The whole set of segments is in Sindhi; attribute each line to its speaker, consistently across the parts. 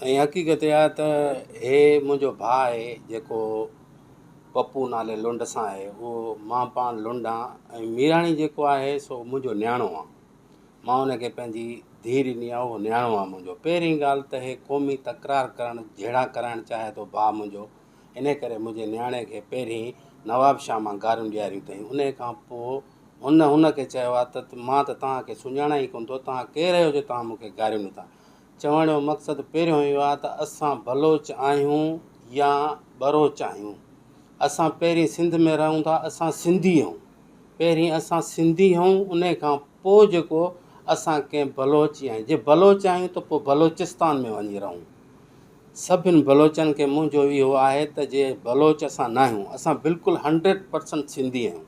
Speaker 1: ۽ حقيقت اها آهي ته هي منهنجو ڀاء آهي جيڪو پپو نالي لنڊ سان آهي اهو مان پاڻ لنڊ آهيان ۽ ميراڻي جيڪو آهي سو منهنجو نياڻو آهي مان ان کي پنهنجي ڌيء ڏني آهي اهو نياڻو آهي منهنجو پهرين ڳالهه ته هي قومي تڪرار ڪرڻ جهيڙا ڪرائڻ چاهي ٿو ڀاء منهنجو ان ڪري منهنجي نياڻي کي پهرين نواب شاهه مان گاريون ڏياريون اٿائين ان کان پوء هن ان کي چيو آهي ته مان ته توهان کي سڃاڻان ئي ڪونه ٿو توهان ڪير آهيو جو توهان مون کي گاريون اٿا چوڻ جو مقصد پهريون اهو آهي ته اسان بلوچ آهيون يا ٻروچ آهيون اسان پهرين سنڌ ۾ رهون ٿا اسان سنڌي اهيون پهرين اسان سنڌي اهيون ان کان پوء جيڪو اسان ڪنهن بلوچ يا جي بلوچ آهيون ته پوء بلوچستان ۾ وڃي رهون سڀني بلوچن کي منهنجو اهو آهي ته جي بلوچ اسان ناهيون اسان بلڪل هنڊريڊ پرسنٽ سنڌي اهيون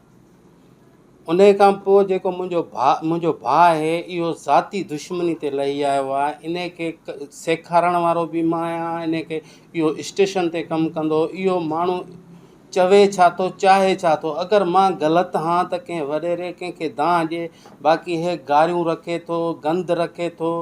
Speaker 1: انهيء کان پوء جيڪو منهنجو ڀاء منهنجو ڀاء آهي اهو ذاتي دشمني تي لهي آيو آهي انهيء کي سيکارڻ وارو به مان آهيان انهيء کي اهو اسٽيشن تي ڪم ڪندو اهو ماڻهو چوي ڇا ٿو چاهي ڇا ٿو اگر مان غلط هان ته ڪنهن وڏيري ڪنهن کي دانهن ڏي باقي هي گاريون رکي ٿو گند رکي ٿو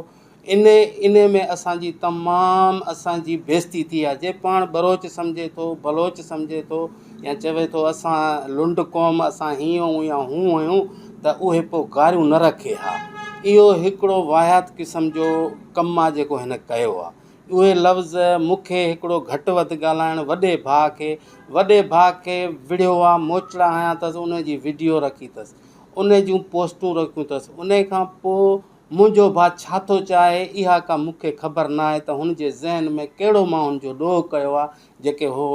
Speaker 1: ان ان ۾ اسان جي تمام اسان جي بيزتي ٿي آ جي پاڻ بروچ سمجهي ٿو بلوچ سمجهي ٿو يا چوي ٿو اسان لنڊ قوم اسان هي هون يا هون هيون ته اهي پو گاريون نه رکي ها اهو هڪڙو واهيات قسم جو ڪم آ جيڪو هن ڪيو آ اهي لفظ مون کي هڪڙو گهٽ وڌ ڳالهائڻ وڏي ڀاء کي وڏي ڀاء کي وڙهيو آ موچڙا هنيا ٿس ان جي وڊيو رکي ٿس ان جون پوسٽون رکيون ٿس ان کان پو منهنجو ڀاء ڇا ٿو چاهي، اها ڪا مون کي خبر ناهي ته هن جي ذهن ۾ ڪهڙو ماڻهن جو ڏوهه ڪيو آ جيڪي هو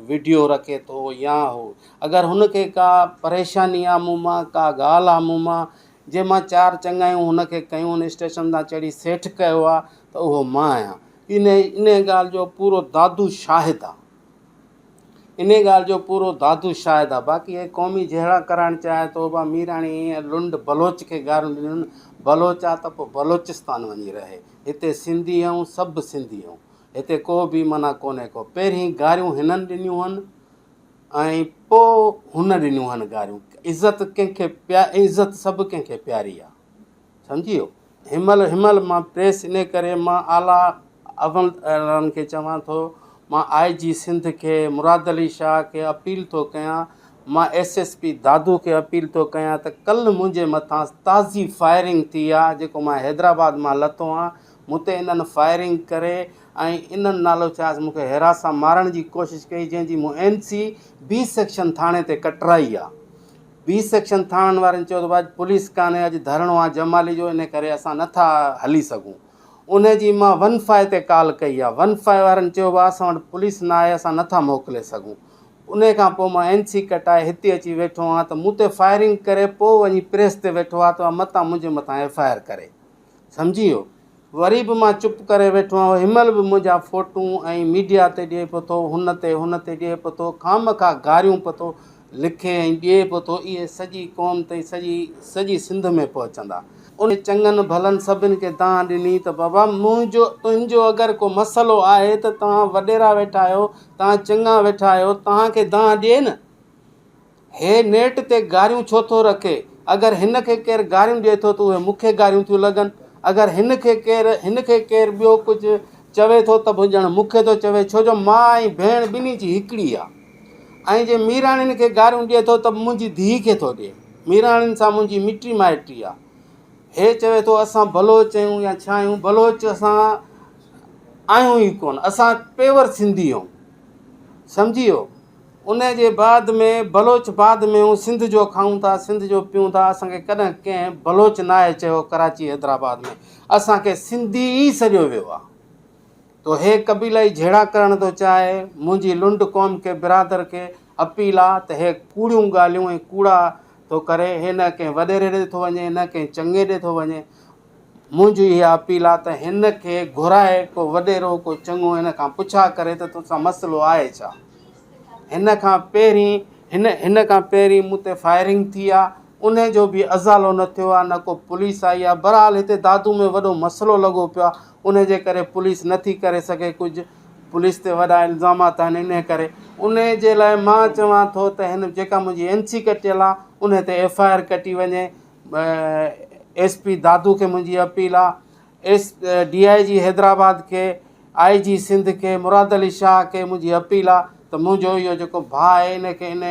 Speaker 1: وڊيو رکي ٿو يا هو اگر هن کي ڪا پريشاني آ مون مان ڪا ڳالهه آ مون مان جي مان چار چڱايون هن کي ڪيون هن اسٽيشن تان چڙهي سيٺ ڪيو آ ته اهو مان آهيان ان ان ڳالهه جو پورو دادو شاهد آ. انهيء ڳالهه جو پورو دادو شاهد آ. باقي هي قومي جهيڙا ڪرائڻ چاهي ٿو. اڀا ميراڻي ۽ لنڊ بلوچ کي گاريون ڏنيون. بلوچ آ ته پوء بلوچستان وڃي رهي. هتي سنڌي آهيون، سڀ سنڌي آهيون. هتي ڪو بي معنيٰ ڪونهي ڪو. پهرين گاريون هنن ڏنيون هن ۽ پوء هن ڏنيون هن گاريون. عزت ڪنهن کي پيا عزت سڀ ڪنهن کي پياري آ. سمجهيو؟ هيمل هيمل مان پريس انهي ڪري مان اعليٰ عمل دارن کي چوان ٿو مان آء جي سنڌ کي مراد علي شاهه کي اپيل ٿو ڪيان مان ايس ايس پي دادو کي اپيل ٿو ڪيان ته ڪلهه منهنجي مٿان تازي فائرنگ ٿي آهي جيڪو مان حيدرآباد مان لٿو آهيان مون تي انهن فائرنگ ڪري ۽ انهن نالو ڇاهيس مون کي هيراس سان مارڻ جي ڪوشش ڪئي جنهن جي مون اين سي بي سيڪشن ٿاڻي تي ڪٽرائي آهي بي سيڪشن ٿاڻن وارن چيو ته اڄ پوليس ڪانهي اڄ ڌرڻو آهي جمالي جو ان ڪري اسان نٿا هلي سگهون ان جي مان ون فائو تي ڪال ڪئي آهي ون فائو وارن چيو ڀاء اسان وٽ پوليس نه آهي اسان نٿا موڪلي سگهون ان کان پوء مان اين سي ڪٽائي هتي اچي ويٺو آهيان ته مون تي فائرنگ ڪري پوء وڃي پريس تي ويٺو آهي ته اها متان منهنجي مٿان ايف آء آر ڪري سمجهي ويو. وري به مان چپ ڪري ويٺو آهيان. هنمهل به منهنجا فوٽون ۽ ميڊيا تي ڏئي پيو ٿو، هن تي، هن تي ڏئي پيو ٿو، خامخواه گاريون پيو ٿو لکي ۽ ڏئي پيو ٿو. اهي سڄي قوم تائين، سڄي سڄي سنڌ ۾ پهچندا. انهيء چڱن ڀلن سڀن کي دانهن ڏني ته بابا منهنجو، تنهنجو اگر ڪو مسئلو آهي ته توهان وڏيرا ويٺا آهيو، توهان چڱا ويٺا آهيو، توهان کي دانهن ڏئي نه. هي نيٽ تي گاريون ڇو ٿو رکي؟ اگر هن کي ڪير گاريون ڏئي ٿو ته اهي مون کي گاريون ٿيون لڳن. اگر هن کي ڪير هن کي ڪير ٻيو ڪجهه چوي ٿو ته به ڄڻ مون کي ٿو چوي ڇو جو ماء ۽ ڀيڻ ٻنهي جي هڪڙي آ. ۽ جي ميراڻين کي گاريون ڏئي ٿو ته به منهنجي ڌيء کي ٿو ڏئي. ميراڻين سان منهنجي مٽي مائٽي آ. هي چوي ٿو اسان بلوچ اهيون يا ڇا اهيون بلوچ اسان آهيون ئي ڪونه اسان پيور سنڌي اهيون. سمجهي ويو. ان جي بعد ۾ بلوچ بعد ۾ هون سنڌ جو کائون ٿا سنڌ جو پيئون ٿا اسان کي ڪڏهن ڪنهن بلوچ ناهي چيو ڪراچي حيدرآباد ۾ اسان کي سنڌي ئي سڏيو ويو آهي تو هي قبيلائي جهيڙا ڪرڻ ٿو چاهي منهنجي لنڊ قوم کي برادر کي اپيل آهي ته هي ڪوڙيون ڳالهيون ۽ ڪوڙا ٿو ڪري هي نه ڪنهن وڏيري ڏي ٿو وڃي نه ڪنهن چڱي ڏي ٿو وڃي منهنجي اها اپيل آ ته هن کي گهرائي ڪو وڏيرو ڪو چڱو هن کان پڇا ڪري ته توسان مسئلو آهي ڇا؟ هن کان پهرين هن هن کان پهرين مون تي فائرنگ ٿي آ ان جو به ازالو نه ٿيو آ نه ڪو پوليس آئي آ برحال هتي دادو ۾ وڏو مسئلو لڳو پيو آ ان جي ڪري پوليس نه ٿي ڪري سگهي ڪجهه پوليس تي وڏا الزامات آهن ان ڪري ان جي لاء مان چوان ٿو ته هن جيڪا منهنجي اين سي ڪٽيل آ ان تي ايف آئي آر ڪٽي وڃي ايس پي دادو کي منهنجي اپيل آ S D I G Hyderabad کي آء جي سنڌ کي مراد علي شاهه کي منهنجي اپيل آ ته منهنجو اهو جيڪو ڀاء آهي ان کي ان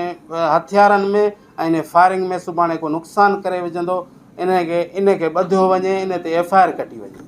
Speaker 1: هٿيارن ۾ ۽ ان فائرنگ ۾ سڀاڻي ڪو نقصان ڪري وجهندو ان کي ان کي ٻڌو وڃي ان تي ايف آء آر ڪٽي وڃي